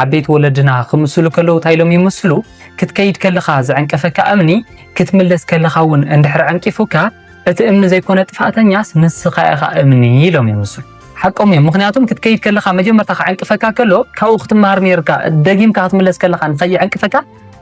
ዓበይቲ ወለድና ክምስሉ ከለዉ እንታይ ኢሎም ይምስሉ? ክትከይድ ከለኻ ዝዕንቀፈካ እምኒ ክትምለስ ከለኻ እውን እንድሕር ዕንቂፉካ እቲ እምኒ ዘይኮነ ጥፋእተኛስ ንስኻ ኢኻ እምኒ ኢሎም ይምስሉ። ሓቆም እዮም። ምክንያቱም ክትከይድ ከለካ መጀመርታ ክዕንቅፈካ ከሎ ካብኡ ክትመሃር ነርካ ደጊምካ ክትምለስ ከለካ ንከይዕንቅፈካ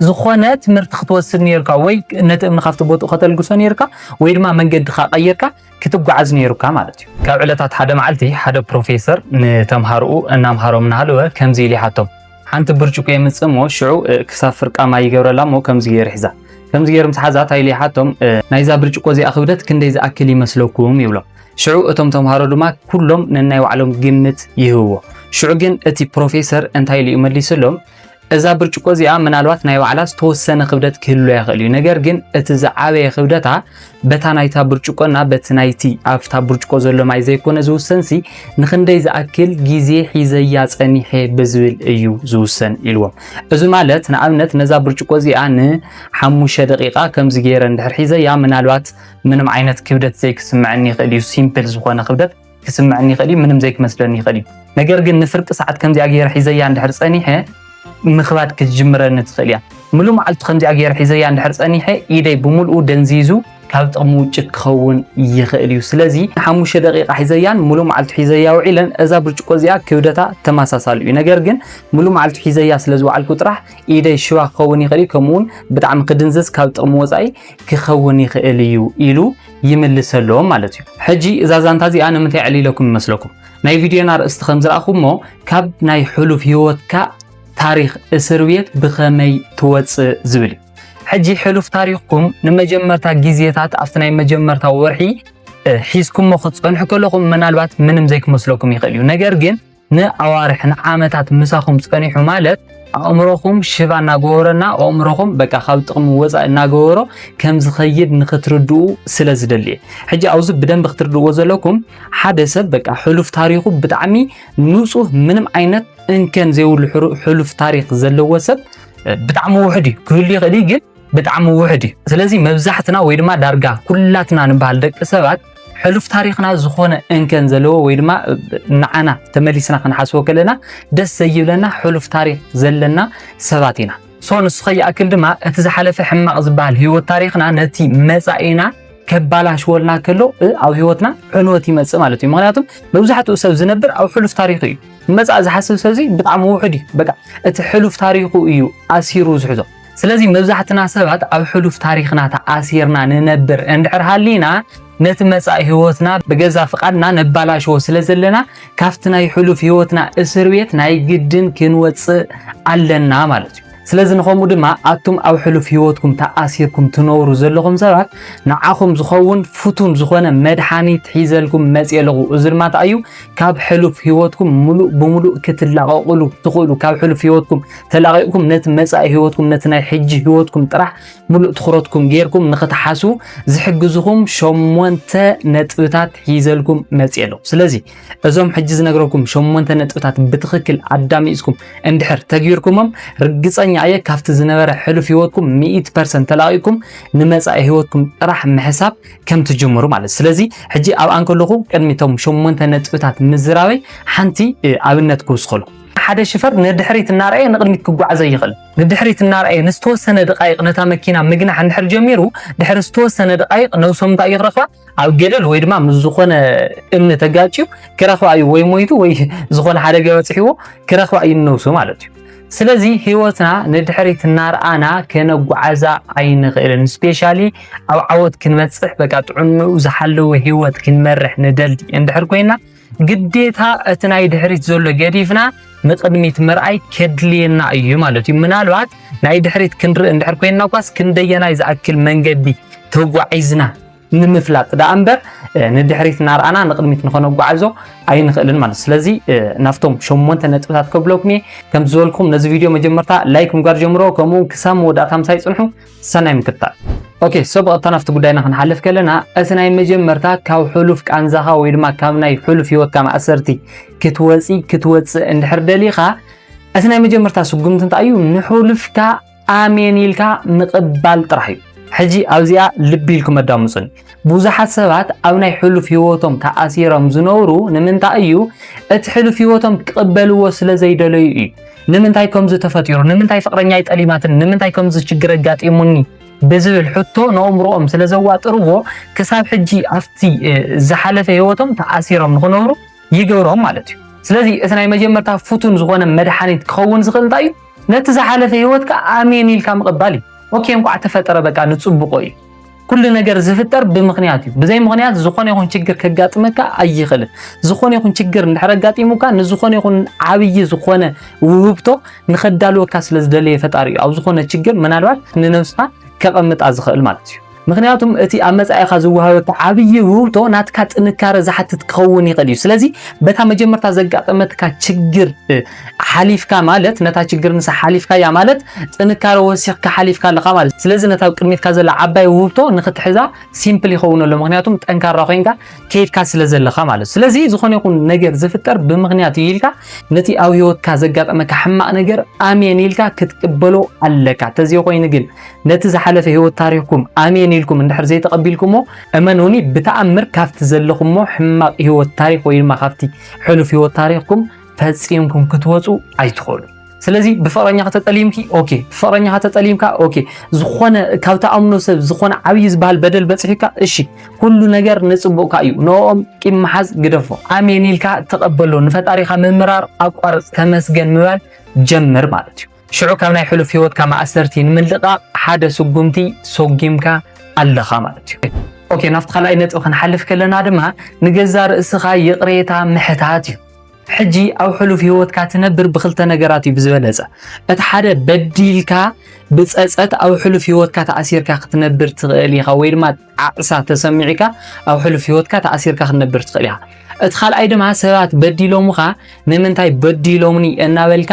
ዝኾነ ትምህርቲ ክትወስድ ነርካ ወይ ነቲ እምኒ ካብቲ ቦትኡ ከተልግሶ ነርካ ወይ ድማ መንገድካ ቀይርካ ክትጓዓዝ ነይሩካ ማለት እዩ። ካብ ዕለታት ሓደ መዓልቲ ሓደ ፕሮፌሰር ንተምሃሮኡ እናምሃሮም እናሃለወ ከምዚ ኢሉ ይሓቶም ሓንቲ ብርጭቆ የምፅእ እሞ ሽዑ ክሳብ ፍርቃ ማይ ይገብረላ እሞ ከምዚ ገይሩ ሒዛ ከምዚ ገይሩ ምስ ሓዛ እንታይ ኢሉ ይሓቶም ናይዛ ብርጭቆ እዚኣ ክብደት ክንደይ ዝኣክል ይመስለኩም ይብሎም ሽዑ እቶም ተምሃሮ ድማ ኩሎም ነናይ ባዕሎም ግምት ይህብዎ ሽዑ ግን እቲ ፕሮፌሰር እንታይ ኢሉ እዩ መሊሱሎም እዛ ብርጭቆ እዚኣ ምናልባት ናይ ባዕላ ዝተወሰነ ክብደት ክህልዎ ይኽእል እዩ። ነገር ግን እቲ ዝዓበየ ክብደታ በታ ናይታ ብርጭቆና በቲ ናይቲ ኣብታ ብርጭቆ ዘሎ ማይ ዘይኮነ ዝውሰንሲ ንክንደይ ዝኣክል ግዜ ሒዘያ ጸኒሐ ብዝብል እዩ ዝውሰን ኢልዎም። እዚ ማለት ንኣብነት ነዛ ብርጭቆ እዚኣ ንሓሙሽተ ደቂቃ ከምዚ ገይረ እንድሕር ሒዘያ ምናልባት ምንም ዓይነት ክብደት ዘይክስምዐኒ ይኽእል እዩ ሲምፕል ዝኾነ ክብደት ክስምዐኒ ይኽእል እዩ፣ ምንም ዘይክመስለኒ ይኽእል እዩ። ነገር ግን ንፍርቂ ሰዓት ከምዚኣ ገይረ ሒዘያ እንድሕር ጸኒሐ ምኽባድ ክትጅምረኒ ትኽእል እያ። ምሉእ መዓልቱ ከምዚኣ ገይረ ሒዘያ እንድሕር ጸኒሐ ኢደይ ብምልኡ ደንዚዙ ካብ ጥቕሚ ውጭ ክኸውን ይኽእል እዩ። ስለዚ ንሓሙሽተ ደቂቓ ሒዘያን ምሉእ መዓልቱ ሒዘያ ውዒለን እዛ ብርጭቆ እዚኣ ክብደታ ተመሳሳሊ እዩ። ነገር ግን ምሉእ መዓልቱ ሒዘያ ስለ ዝውዓልኩ ጥራሕ ኢደይ ሽባ ክኸውን ይኽእል እዩ፣ ከምኡውን ብጣዕሚ ክድንዝዝ ካብ ጥቕሚ ወፃኢ ክኸውን ይኽእል እዩ ኢሉ ይምልሰሎም ማለት እዩ። ሕጂ እዛ ዛንታ እዚኣ ንምንታይ ዕሊለኩም ይመስለኩም? ናይ ቪድዮና ኣርእስቲ ከም ዝረኣኹሞ ካብ ናይ ሕሉፍ ህይወትካ ታሪኽ እስር ቤት ብኸመይ ትወፅእ ዝብል እዩ። ሕጂ ሕሉፍ ታሪኽኩም ንመጀመርታ ግዜታት ኣብቲ ናይ መጀመርታ ወርሒ ሒዝኩሞ ክትፀንሑ ከለኹም ምናልባት ምንም ዘይክመስለኩም ይኽእል እዩ ነገር ግን ንኣዋርሕ ንዓመታት ምሳኹም ጸኒሑ ማለት ኣእምሮኹም ሽባ እናገበረና ኣእምሮኹም በቃ ካብ ጥቕሚ ወፃኢ እናገበሮ ከም ዝኸይድ ንክትርድኡ ስለ ዝደሊ ሕጂ ኣብዚ ብደንብ ክትርድእዎ ዘለኩም ሓደ ሰብ በቃ ሕሉፍ ታሪኹ ብጣዕሚ ንፁህ ምንም ዓይነት እንከን ዘይብሉ ሕሉፍ ታሪክ ዘለዎ ሰብ ብጣዕሚ ውሕድ እዩ ክህሉ ይኽእል ግን ብጣዕሚ ውሕድ እዩ። ስለዚ መብዛሕትና ወይ ድማ ዳርጋ ኩላትና ንበሃል ደቂ ሰባት ሕሉፍ ታሪኽና ዝኾነ እንከን ዘለዎ ወይ ድማ ንዓና ተመሊስና ክንሓስቦ ከለና ደስ ዘይብለና ሕሉፍ ታሪኽ ዘለና ሰባት ኢና። ሶ ንሱ ከይኣክል ድማ እቲ ዝሓለፈ ሕማቕ ዝበሃል ህይወት ታሪኽና ነቲ መጻኢና ከባላሽወልና ከሎ ኣብ ህይወትና ዕንወት ይመጽእ ማለት እዩ። ምክንያቱም መብዛሕትኡ ሰብ ዝነብር ኣብ ሕሉፍ ታሪኹ እዩ። መጻእ ዝሓስብ ሰብዚ ብጣዕሚ ውሑድ እዩ። በቃ እቲ ሕሉፍ ታሪኹ እዩ ኣሲሩ ዝሕዞ። ስለዚ መብዛሕትና ሰባት ኣብ ሕሉፍ ታሪኽና ተኣሲርና ንነብር እንድሕር ሃሊና ነቲ መጻኢ ህይወትና ብገዛ ፍቓድና ነባላሽዎ ስለ ዘለና ካብቲ ናይ ሕሉፍ ህይወትና እስር ቤት ናይ ግድን ክንወጽእ ኣለና ማለት እዩ። ስለዚ ንኸምኡ ድማ ኣቱም ኣብ ሕሉፍ ህይወትኩም ተኣሲርኩም ትነብሩ ዘለኹም ሰባት ንዓኹም ዝኸውን ፍቱን ዝኾነ መድሓኒት ሒዘልኩም መፅየ ኣለኹ። እዚ ድማ እንታይ እዩ ካብ ሕሉፍ ህይወትኩም ሙሉእ ብሙሉእ ክትላቐቕሉ ትኽእሉ ካብ ሕሉፍ ህይወትኩም ተላቒቕኩም ነቲ መጻኢ ህይወትኩም ነቲ ናይ ሕጂ ህይወትኩም ጥራሕ ምሉእ ትኹረትኩም ጌርኩም ንኽትሓስቡ ዝሕግዝኹም ሸሞንተ ነጥብታት ሒዘልኩም መጽእ ኣለኹ ስለዚ እዞም ሕጂ ዝነግረኩም ሸሞንተ ነጥብታት ብትኽክል ኣዳሚፅኩም እንድሕር ተግቢርኩሞም ርግፀኛ እየ ካብቲ ዝነበረ ሕሉፍ ህይወትኩም ሚኢት ፐርሰንት ተላቒቕኩም ንመጻኢ ህይወትኩም ጥራሕ ምሕሳብ ከም ትጅምሩ ማለት ስለዚ ሕጂ ኣብ ኣንከለኹ ቅድሚቶም ሸሞንተ ነጥብታት ምዝራበይ ሓንቲ ኣብነት ክውስኸልኩም ሓደ ሽፈር ንድሕሪት እናርኣየ ንቕድሚት ክጓዓዝ ኣይኽእልን። ንድሕሪት እናርኣየ ንዝተወሰነ ድቓይቕ ነታ መኪና ምግናሕ እንድሕር ጀሚሩ፣ ድሕሪ ዝተወሰነ ድቓይቕ ነብሶም እንታይ እዩ ክረኽባ? ኣብ ገደል ወይ ድማ ምስ ዝኾነ እምኒ ተጋጭዩ ክረኽባ እዩ። ወይ ሞይቱ ወይ ዝኾነ ሓደጋ በጺሕዎ ክረኽባ እዩ ንነብሱ ማለት እዩ። ስለዚ ህይወትና ንድሕሪት እናርኣና ከነጓዓዛ ኣይንኽእልን። ስፔሻሊ ኣብ ዓወት ክንበጽሕ በቃ ጥዕንኡ ዝሓለወ ህይወት ክንመርሕ ንደሊ እንድሕር ኮይና ግዴታ እቲ ናይ ድሕሪት ዘሎ ገዲፍና ንቅድሚት ምርኣይ ከድልየና እዩ ማለት እዩ። ምናልባት ናይ ድሕሪት ክንርኢ እንድሕር ኮይንና ኳስ ክንደየናይ ዝኣክል መንገዲ ተጓዒዝና ንምፍላጥ ደኣ እምበር ንድሕሪት እናርኣና ንቅድሚት ንኸነጓዓዞ ኣይንኽእልን ማለት ስለዚ ናብቶም ሸሞንተ ነጥብታት ከብለኩም እየ ከም ዝበልኩም ነዚ ቪድዮ መጀመርታ ላይክ ምግባር ጀምሮ ከምኡ ክሳብ መወዳእታ ምሳይ ፅንሑ ሰናይ ምክታል። ኦኬ ሰብ ቀጥታ ናብቲ ጉዳይና ክንሓልፍ ከለና እቲ ናይ መጀመርታ ካብ ሕሉፍ ቃንዛኻ ወይ ድማ ካብ ናይ ሕሉፍ ህይወትካ ማእሰርቲ ክትወፂ ክትወፅእ እንድሕር ደሊኻ እቲ ናይ መጀመርታ ስጉምቲ እንታይ እዩ ንሕሉፍካ ኣሜን ኢልካ ምቕባል ጥራሕ እዩ ሕጂ ኣብዚኣ ልቢ ኢልኩም ኣዳምፁኒ ብዙሓት ሰባት ኣብ ናይ ሕሉፍ ህይወቶም ተኣሲሮም ዝነብሩ ንምንታይ እዩ? እቲ ሕሉፍ ህይወቶም ክቕበልዎ ስለ ዘይደለዩ እዩ። ንምንታይ ከምዚ ተፈጢሩ፣ ንምንታይ ፍቅረኛይ ጠሊማትኒ፣ ንምንታይ ከምዚ ችግር ኣጋጢሙኒ ብዝብል ሕቶ ንኣእምሮኦም ስለ ዘዋጥርዎ ክሳብ ሕጂ ኣብቲ ዝሓለፈ ህይወቶም ተኣሲሮም ንክነብሩ ይገብሮም ማለት እዩ። ስለዚ እቲ ናይ መጀመርታ ፍቱን ዝኾነ መድሓኒት ክኸውን ዝኽእል እንታይ እዩ? ነቲ ዝሓለፈ ህይወትካ ኣሜን ኢልካ ምቕባል እዩ። ኦኬ እንኳዕ ተፈጠረ በቃ ንጽቡቆ እዩ። ኩሉ ነገር ዝፍጠር ብምኽንያት እዩ። ብዘይ ምኽንያት ዝኾነ ይኹን ችግር ከጋጥመካ ኣይኽእልን። ዝኾነ ይኹን ችግር እንድሕር ኣጋጢሙካ ንዝኾነ ይኹን ዓብዪ ዝኾነ ውህብቶ ንኸዳልወካ ስለ ዝደለየ ፈጣሪ እዩ ኣብ ዝኾነ ችግር ምናልባት ንነብስኻ ከቐምጣ ዝኽእል ማለት እዩ። ምክንያቱም እቲ ኣብ መጻኢኻ ዝወሃበካ ዓብዪ ውህብቶ ናትካ ጥንካረ ዝሓትት ክኸውን ይኽእል እዩ። ስለዚ በታ መጀመርታ ዘጋጠመትካ ችግር ሓሊፍካ ማለት ነታ ችግር ንሳ ሓሊፍካያ ማለት ጥንካረ ወሲኽካ ሓሊፍካ ኣለኻ ማለት ስለዚ ነታ ኣብ ቅድሚትካ ዘላ ዓባይ ውህብቶ ንኽትሕዛ ሲምፕል ይኸውን ኣሎ ምክንያቱም ጠንካራ ኮይንካ ከይድካ ስለ ዘለኻ ማለት ስለዚ ዝኾነ ይኹን ነገር ዝፍጠር ብምክንያት እዩ ኢልካ ነቲ ኣብ ህይወትካ ዘጋጠመካ ሕማቕ ነገር ኣሜን ኢልካ ክትቅበሎ ኣለካ ተዘይ ኮይኑ ግን ነቲ ዝሓለፈ ህይወት ታሪኽኩም ኣሜን ኢልኩም እንድሕር ዘይተቐቢልኩሞ እመኑኒ ብተኣምር ካብቲ ዘለኹሞ ሕማቕ ህይወት ታሪኽ ወይ ድማ ካብቲ ሕሉፍ ህይወት ታሪኽኩም ፈጺምኩም ክትወፁ ኣይትኽእሉ። ስለዚ ብፍቕረኛኻ ተጠሊምኪ ኦኬ፣ ብፍቕረኛኻ ተጠሊምካ ኦኬ፣ ዝኾነ ካብ ተኣምኖ ሰብ ዝኾነ ዓብዪ ዝበሃል በደል በፂሑካ እሺ፣ ኩሉ ነገር ንፅቡቕካ እዩ። ንኦም ቂም መሓዝ ግደፎ። ኣሜን ኢልካ ተቐበሎ። ንፈጣሪኻ ምምራር ኣቋርፅ፣ ተመስገን ምባል ጀምር ማለት እዩ። ሽዑ ካብ ናይ ሕሉፍ ህይወትካ ማእሰርቲ ንምልቃቕ ሓደ ስጉምቲ ሰጒምካ ኣለኻ ማለት እዩ። ኦኬ፣ ናብቲ ካልኣይ ነጥቢ ክንሓልፍ ከለና ድማ ንገዛ ርእስኻ ይቕሬታ ምሕታት እዩ። ሕጂ ኣብ ሕሉፍ ህይወትካ ትነብር ብክልተ ነገራት እዩ ብዝበለጸ። እቲ ሓደ በዲልካ ብጸጸት ኣብ ሕሉፍ ህይወትካ ተኣሲርካ ክትነብር ትኽእል ኢኻ ወይ ድማ ጣዕሳ ተሰሚዑካ ኣብ ሕሉፍ ህይወትካ ተኣሲርካ ክትነብር ትኽእል ኢኻ። እቲ ካልኣይ ድማ ሰባት በዲሎምኻ ንምንታይ በዲሎምኒ እናበልካ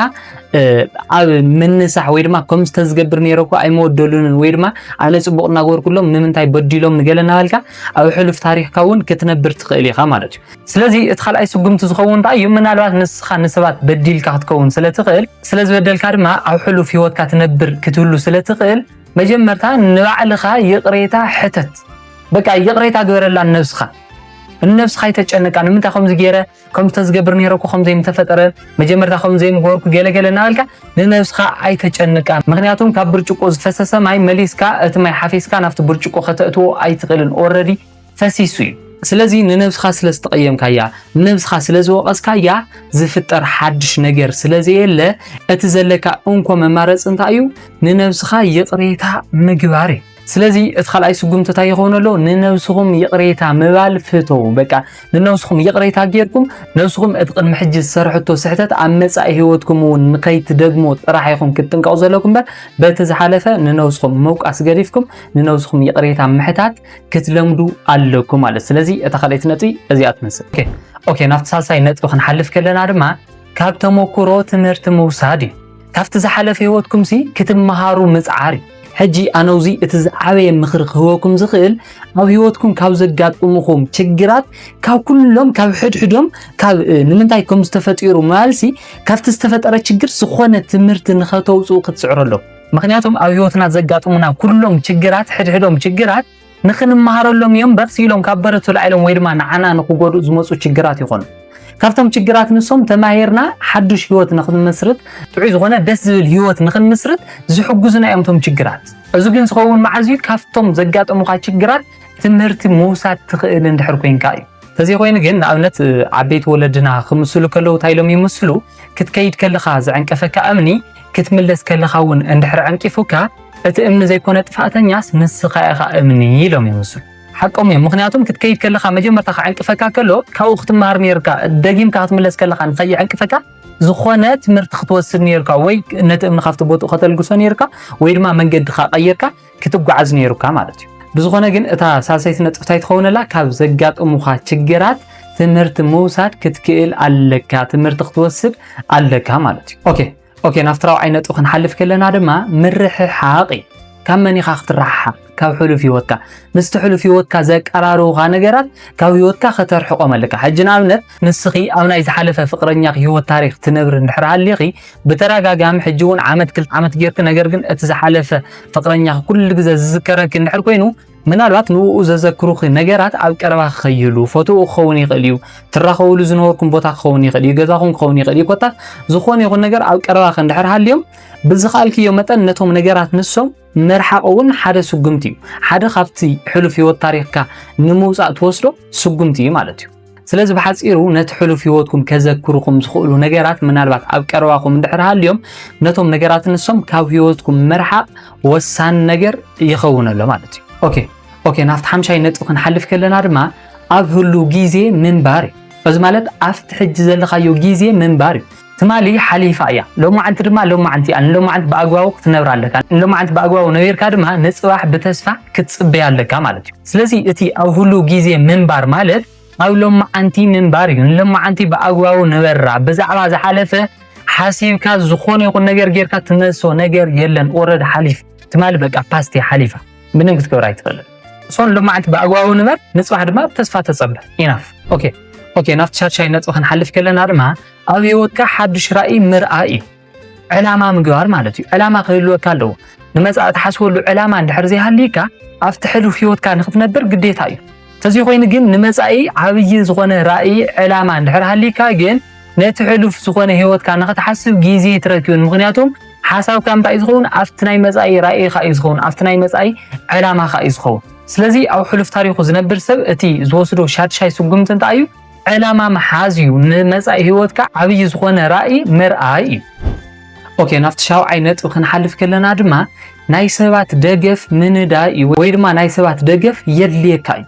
ኣብ ምንሳሕ ወይ ድማ ከም ዝተዝገብር ነይረ እኮ ኣይመወደሉንን ወይ ድማ ኣነ ፅቡቅ እናገበርኩሎም ንምንታይ በዲሎም ንገለ እናበልካ ኣብ ሕሉፍ ታሪክካ እውን ክትነብር ትኽእል ኢኻ ማለት እዩ። ስለዚ እቲ ካልኣይ ስጉምቲ ዝኸውን እንታይ እዩ? ምናልባት ንስኻ ንሰባት በዲልካ ክትከውን ስለ ትኽእል፣ ስለ ዝበደልካ ድማ ኣብ ሕሉፍ ህይወትካ ትነብር ክትህሉ ስለ ትኽእል፣ መጀመርታ ንባዕልኻ ይቕሬታ ሕተት። በቃ ይቕሬታ ግበረላ ንነብስኻ። ንነብስኻ ኣይተጨንቃ። ንምንታይ ከምዚ ገይረ፣ ከምዚ ተዝገብር ነይረ እኮ ከምዚ ምተፈጠረ፣ መጀመርታ ከምዚ ዘይምገበርኩ ገለገለ እናበልካ ንነብስኻ ኣይተጨንቃ። ምክንያቱም ካብ ብርጭቆ ዝፈሰሰ ማይ መሊስካ እቲ ማይ ሓፊስካ ናብቲ ብርጭቆ ከተእትዎ ኣይትኽእልን። ኦልረዲ ፈሲሱ እዩ። ስለዚ ንነብስኻ ስለ ዝተቐየምካያ፣ ንነብስኻ ስለ ዝወቐስካያ ዝፍጠር ሓድሽ ነገር ስለ ዘየለ፣ እቲ ዘለካ እንኮ መማረፂ እንታይ እዩ? ንነብስኻ ይቕሬታ ምግባር እዩ። ስለዚ እቲ ካልኣይ ስጉምቲ እንታይ ይኸውን ኣሎ? ንነብስኹም ይቕሬታ ምባል ፍተው። በቃ ንነብስኹም ይቕሬታ ጌርኩም ነብስኹም እቲ ቅድሚ ሕጂ ዝሰርሕቶ ስሕተት ኣብ መጻኢ ህይወትኩም እውን ንኸይትደግሞ ጥራሕ ኢኹም ክትጥንቀቑ ዘለኩም እምበር በቲ ዝሓለፈ ንነብስኹም ምውቃስ ገዲፍኩም ንነብስኹም ይቕሬታ ምሕታት ክትለምዱ ኣለኩም ማለት ስለዚ እታ ካልኣይቲ ነጥቢ እዚኣ ትመስል ኦኬ ናብቲ ሳልሳይ ነጥቢ ክንሓልፍ ከለና ድማ ካብ ተሞክሮ ትምህርቲ ምውሳድ እዩ ካብቲ ዝሓለፈ ህይወትኩም ሲ ክትመሃሩ ምፅዓር እዩ ሕጂ ኣነውዚ እቲ ዝዓበየ ምኽሪ ክህበኩም ዝኽእል ኣብ ህይወትኩም ካብ ዘጋጥሙኹም ችግራት ካብ ኩሎም ካብ ሕድሕዶም ካብ ንምንታይ ከም ዝተፈጢሩ ማልሲ ካብቲ ዝተፈጠረ ችግር ዝኾነ ትምህርቲ ንኸተውፅኡ ክትፅዕሩ ኣለኩም ምክንያቱም ኣብ ህይወትና ዘጋጥሙና ኩሎም ችግራት ሕድሕዶም ችግራት ንክንመሃረሎም እዮም በርስ ኢሎም ካብ በረቱ ላዒሎም ወይ ድማ ንዓና ንክጎድኡ ዝመፁ ችግራት ይኾኑ ካብቶም ችግራት ንሶም ተማሂርና ሓዱሽ ህይወት ንክንምስርት ጥዑይ ዝኾነ ደስ ዝብል ህይወት ንክንምስርት ዝሕግዙና እዮም እቶም ችግራት እዚ ግን ዝኸውን መዓዝ እዩ ካብቶም ዘጋጠሙካ ችግራት ትምህርቲ ምውሳድ ትኽእል እንድሕር ኮይንካ እዩ ተዘይኮይኑ ግን ንኣብነት ዓበይቲ ወለድና ክምስሉ ከለዉ እንታይ ኢሎም ይምስሉ ክትከይድ ከለኻ ዝዕንቀፈካ እምኒ ክትምለስ ከለኻ እውን እንድሕር ዕንቂፉካ እቲ እምኒ ዘይኮነ ጥፋእተኛስ ንስኻ ኢኻ እምኒ ኢሎም ይምስሉ ሓቆም እዮም ምክንያቱም ክትከይድ ከለኻ መጀመርታ ክዕንቅፈካ ከሎ ካብኡ ክትመሃር ነርካ ደጊምካ ክትምለስ ከለኻ ንኸይዕንቅፈካ ዝኾነ ትምህርቲ ክትወስድ ነርካ ወይ ነቲ እምኒ ካብቲ ቦትኡ ከተልግሶ ነርካ ወይ ድማ መንገድኻ ቀይርካ ክትጓዓዝ ነይሩካ ማለት እዩ። ብዝኾነ ግን እታ ሳልሰይቲ ነጥቢ እንታይ ትኸውነላ ካብ ዘጋጥሙኻ ችግራት ትምህርቲ ምውሳድ ክትክእል ኣለካ፣ ትምህርቲ ክትወስድ ኣለካ ማለት እዩ። ኦኬ ኦኬ ናብቲ ራብዓይ ነጥቢ ክንሓልፍ ከለና ድማ ምርሕሓቕ እዩ። ካብ መን ኢኻ ክትረሓሓቕ? ካብ ሕሉፍ ህይወትካ። ምስቲ ሕሉፍ ህይወትካ ዘቀራርቡኻ ነገራት ካብ ህይወትካ ከተርሕቖም ኣለካ። ሕጂ ንኣብነት ንስኺ ኣብ ናይ ዝሓለፈ ፍቅረኛኺ ሂወት ታሪኽ ትነብሪ እንድሕር ሃሊኺ ብተዳጋጋሚ ሕጂ ውን ዓመት ክልተ ዓመት ጌርኪ ነገር ግን እቲ ዝሓለፈ ፍቅረኛኺ ኩሉ ግዘ ዝዝከረኪ እንድሕር ኮይኑ ምናልባት ንኡ ዘዘክሩኺ ነገራት ኣብ ቀረባ ክኸይሉ ፎቶኡ ክኸውን ይኽእል እዩ ትራኸብሉ ዝነበርኩም ቦታ ክኸውን ይኽእል እዩ ገዛኹም ክኸውን ይኽእል እዩ ኮታስ ዝኾነ ይኹን ነገር ኣብ ቀረባኺ እንድሕር ሃልዮም ብዝኸኣልክዮ መጠን ነቶም ነገራት ንሶም ምርሓቕ እውን ሓደ ስጉምቲ እዩ። ሓደ ካብቲ ሕሉፍ ህይወት ታሪኽካ ንምውፃእ ትወስዶ ስጉምቲ እዩ ማለት እዩ። ስለዚ ብሓፂሩ ነቲ ሕሉፍ ህይወትኩም ከዘክርኹም ዝኽእሉ ነገራት ምናልባት ኣብ ቀረባኹም እንድሕር ሃልዮም ነቶም ነገራት ንሶም ካብ ህይወትኩም ምርሓቕ ወሳኒ ነገር ይኸውን ኣሎ ማለት እዩ። ኦኬ ኦኬ ናብቲ ሓምሻይ ነጥቢ ክንሓልፍ ከለና ድማ ኣብ ህሉ ግዜ ምንባር እዩ። እዚ ማለት ኣብቲ ሕጂ ዘለኻዮ ግዜ ምንባር እዩ። ትማሊ ሓሊፋ እያ ሎማዓንቲ ድማ ሎማዓንቲ እያ ንሎማዓንቲ ብኣግባቡ ክትነብራ ኣለካ ንሎማዓንቲ ብኣግባቡ ነቢርካ ድማ ንፅባሕ ብተስፋ ክትፅበያ ኣለካ ማለት እዩ ስለዚ እቲ ኣብ ሁሉ ግዜ ምንባር ማለት ኣብ ሎማዓንቲ ምንባር እዩ ንሎማዓንቲ ብኣግባቡ ንበራ ብዛዕባ ዝሓለፈ ሓሲብካ ዝኾነ ይኹን ነገር ጌርካ ትመልሶ ነገር የለን ኦረድ ሓሊፍ ትማሊ በቃ ፓስቲ ሓሊፋ ምንም ክትገብር ኣይትኽእልን እሶን ልምዓት ብኣግባቡ ንበር ንፅባሕ ድማ ብተስፋ ተፀበ ኢናፍ ኦኬ ኦኬ ናብቲ ሻድሻይ ነጥቢ ክንሓልፍ ከለና ድማ ኣብ ህይወትካ ሓዱሽ ራኢ ምርኣይ እዩ ዕላማ ምግባር ማለት እዩ ዕላማ ክህልወካ ኣለዎ ንመፃኢ ትሓስበሉ ዕላማ እንድሕር ዘይሃልይካ ኣብቲ ሕሉፍ ህይወትካ ንክትነብር ግዴታ እዩ ተዚ ኮይኑ ግን ንመፃኢ ዓብይ ዝኾነ ራኢ ዕላማ እንድሕር ሃልይካ ግን ነቲ ሕሉፍ ዝኾነ ህይወትካ ንክትሓስብ ግዜ ትረክብን ምክንያቱም ሓሳብካ እንታይ እዩ ዝኸውን ኣብቲ ናይ መፃኢ ራኢኻ እዩ ዝኸውን ኣብቲ ናይ መፃኢ ዕላማኻ እዩ ዝኸውን ስለዚ ኣብ ሕሉፍ ታሪኹ ዝነብር ሰብ እቲ ዝወስዶ ሻድሻይ ስጉምቲ እንታይ እዩ ዕላማ ምሓዝ እዩ ንመጻኢ ህይወትካ ዓብዪ ዝኾነ ራእይ ምርኣይ እዩ። ኦኬ ናብቲ ሻውዓይ ነጥቢ ክንሓልፍ ከለና ድማ ናይ ሰባት ደገፍ ምንዳይ እዩ ወይ ድማ ናይ ሰባት ደገፍ የድልየካ እዩ።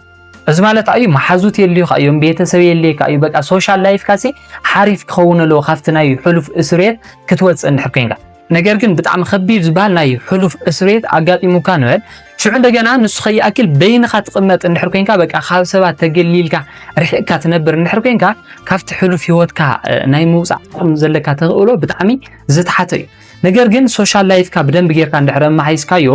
እዚ ማለት ኣዩ መሓዙት የድልዩካ እዮም፣ ቤተሰብ የድልየካ እዩ። በቃ ሶሻል ላይፍካ ሲ ሓሪፍ ክኸውን ኣለዎ ካብቲ ናይ ሕሉፍ እስርየት ክትወፅእ እንድሕር ኮይንካ ነገር ግን ብጣዕሚ ከቢድ ዝባሃል ናይ ሕሉፍ እስርቤት ኣጋጢሙካ ንበል ሽዑ እንደገና ንሱ ከይኣክል በይንኻ ትቕመጥ እንድሕር ኮንካ በቃ ካብ ሰባት ተገሊልካ ርሒቕካ ትነብር እንድሕር ኮንካ ካብቲ ሕሉፍ ሂወትካ ናይ ምውጻእ ዓቕሚ ዘለካ ተኽእሎ ብጣዕሚ ዝተሓተ እዩ ነገር ግን ሶሻል ላይፍካ ብደንብ ጌርካ እንድሕረ መሓይስካዮ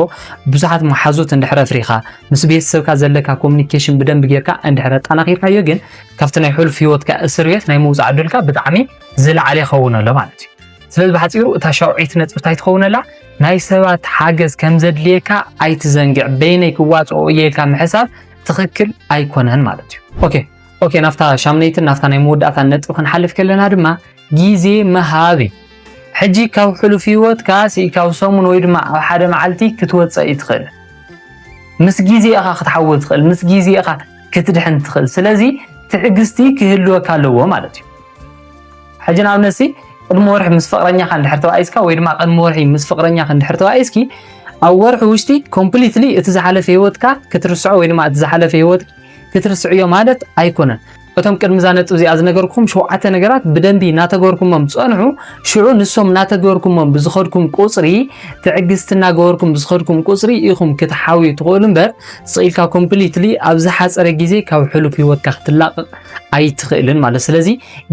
ብዙሓት መሓዙት እንድሕረ ፍሪኻ ምስ ቤተሰብካ ዘለካ ኮሚኒኬሽን ብደንብ ጌርካ እንድሕረ ኣጠናኺርካዮ ግን ካብቲ ናይ ሕሉፍ ሂወትካ እስር ቤት ናይ ምውፃእ ዕድልካ ብጣዕሚ ዝለዓለ ይኸውን ኣሎ ማለት እዩ ስለዚ ብሓፂሩ እታ ሻውዒት ነጥቢ እንታይ ትኸውነላ ናይ ሰባት ሓገዝ ከም ዘድልየካ ኣይትዘንግዕ በይነይ ክዋፅኦ እየ ኢልካ ምሕሳብ ትኽክል ኣይኮነን ማለት እዩ ኦኬ ኦኬ ናብታ ሻምነይትን ናብታ ናይ መወዳእታ ነጥቢ ክንሓልፍ ከለና ድማ ግዜ ምሃብ እዩ ሕጂ ካብ ሕሉፍ ህይወትካ ስኢልካ ኣብ ሰሙን ወይ ድማ ኣብ ሓደ መዓልቲ ክትወፀእ እዩ ትኽእል ምስ ግዜ ኢኻ ክትሓወ ትኽእል ምስ ግዜ ኢኻ ክትድሕን ትኽእል ስለዚ ትዕግስቲ ክህልወካ ኣለዎ ማለት እዩ ሕጂ ንኣብነት ሲ ቅድሚ ወርሒ ምስ ፍቅረኛካ እንድሕር ተባኢስካ ወይ ድማ ቅድሚ ወርሒ ምስ ፍቅረኛካ እንድሕር ተባኢስኪ ኣብ ወርሒ ውሽጢ ኮምፕሊትሊ እቲ ዝሓለፈ ሂወትካ ክትርስዖ ወይ ድማ እቲ ዝሓለፈ ሂወት ክትርስዕዮ ማለት ኣይኮነን። እቶም ቅድሚ እዛ ነጥብ እዚኣ ዝነገርኩም ሸውዓተ ነገራት ብደንቢ እናተገበርኩሞም ፀንሑ። ሽዑ ንሶም እናተገበርኩሞም ብዝኸድኩም ቁፅሪ ትዕግስቲ እናገበርኩም ብዝኸድኩም ቁፅሪ ኢኹም ክትሓውዩ ትኽእሉ እምበር ስኢልካ ኮምፕሊትሊ ኣብ ዝሓፀረ ግዜ ካብ ሕሉፍ ሂወትካ ክትላቐቕ ኣይትኽእልን ማለት ስለዚ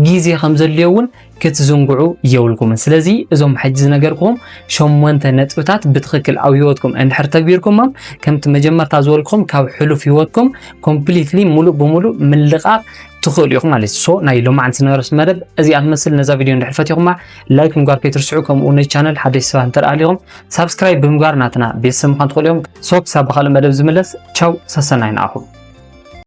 ግዜ ከም ዘድልዮ እውን ክትዝንግዑ የብልኩምን። ስለዚ እዞም ሕጂ ዝነገርኩኹም ሸሞንተ ነጥብታት ብትኽክል ኣብ ህይወትኩም እንድሕር ተግቢርኩሞም ከምቲ መጀመርታ ዝበልኩኹም ካብ ሕሉፍ ህይወትኩም ኮምፕሊትሊ ሙሉእ ብሙሉእ ምልቓቕ ትኽእሉ ኢኹም ማለት እዩ። ሶ ናይ ሎማዕን ስነረስ መደብ እዚኣ ትመስል። ነዛ ቪድዮ እንድሕር ፈቲኹማ ላይክ ምግባር ከይትርስዑ፣ ከምኡ ነዚ ቻነል ሓደሽ ሰባት እንተደኣ ኣሊኹም ሳብስክራይብ ብምግባር ናትና ቤተሰብ ምዃን ትኽእሉ ኢኹም። ሶ ክሳብ ብኻልእ መደብ ዝምለስ ቻው፣ ሰሰናይ ንዓኹም።